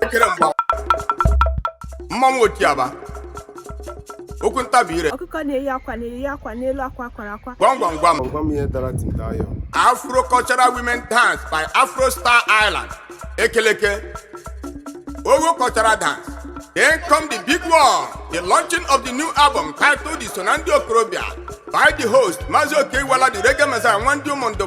ekere mgba mmanwụ otiaba okwu ntabi ire ọkụkọ na-eyi akwa na-eyi akwa n'elu akwa kwara akwa gwam gwam gwam Gwa m ihe dara tintayo afro cultural women dance by afro star Ireland ekeleke ogo cultural dance then come the big one the launching of the new album titled i so na ndị okorobịa by the host Mazị Okey Iwuala the reggae messiah nwa ndị Ụmụndụ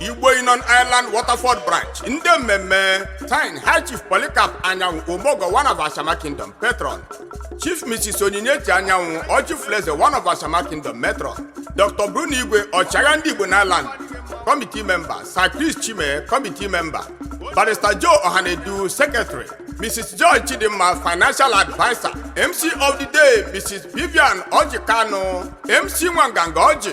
Igbo Union Ireland Waterford Branch ndị mmemme team High Chief Polycarp Anyanwụ Omeọgọ one of Ashama Kingdom Patron Chief Mrs. Onyinyechi Anyanwụ Ọjị Fuleze one of Ashama Kingdom Matron Dr. Bruno Igwe ọchịagha ndị Igbo n'Ireland Committee Member Sir Chris Chime Committee Member Barrister Joe Ohanedu Secretary Mrs. Joy Chidimma, Financial Advisor. MC of the Day, Mrs. Vivian Ọjị Kanụ. MC Nwanganga Ọjị.